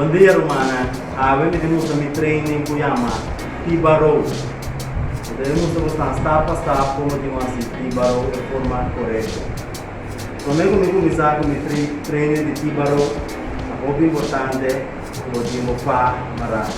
Bon dia rumannan, awe mi ta mustra mi training cu yama Piba Row. Mi ta mustra bo stap stap pa stap como tin cu haci Piba Row e forma corecto. Prome cu mi cuminsa cu mi training di Piba Row, ta hopi importante, Como tin bo pa marado.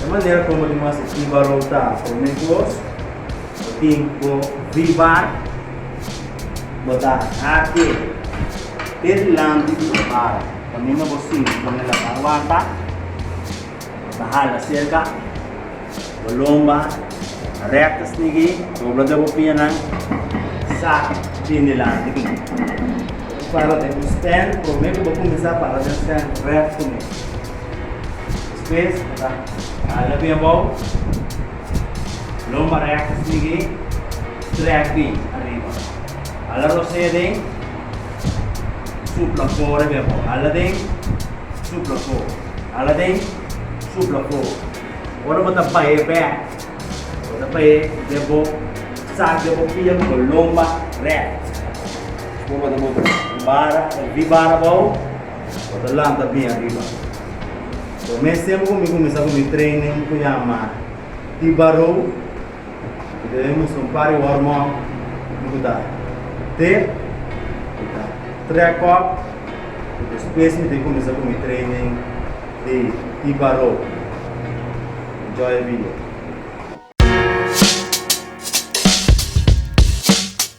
E manera como tin bo haci tin valor ta prome cos bo tin bo vivar, bo ta hake te dilanti di bo baro pa mi no bo sinti con e laba wanta, bo ta hala cerca. Bo lomba recta snigi, dobla de bo pianan, sa bin dilanti cu mi. Bo ta para den un stand, prome cu bo cuminsa para den stand rect cu mi. Despues bo ta hala bin abao, lomba recta snigi, strek bin ariba. Hala rosea den, supla core bin abao. Hala den, supla core. Hala den, supla core. Ora bo ta baie back, bo ta baie den bo sak den bo pia cu bo lomba recht. Despues bo ta boto un bara, el di bara bao, bo ta lanta bien ariba. Prome tiempo cu mi cuminsa cu mi training cu yama T-Barrow, Ku ta demos un par di hormon ku ta te ku ta trek op i despues mi tin kuminsá ku mi training di hipa ropi. Enjoy e video.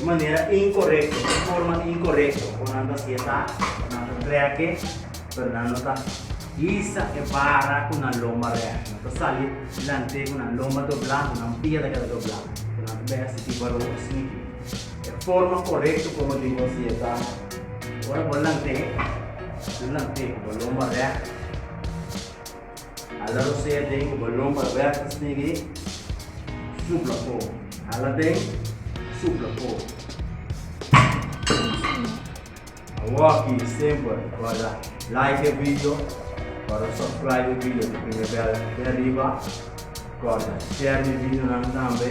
Un manera inkorekto, un forma inkorekto ku nan ta siña ta, nan ta trèk'e, pero nan no ta hisa e bara ku nan lomba rèk. Nan ta sali lant'e ku nan lomba doblá, ku nan pia ta keda doblá, ku nan ta bira e siti baron asina ke. E forma korekto ku bo debe hasié ta, ora bo lant'e, bo lant'e ku bo lomba rèk. Hala Rosea den e balon pa Roberto Snegue, supla fo. Hala den, supla fo. Awor ki semper guarda like e video, guarda subscribe e video, ta pone bel aki arriba, guarda share mi videonan tambe.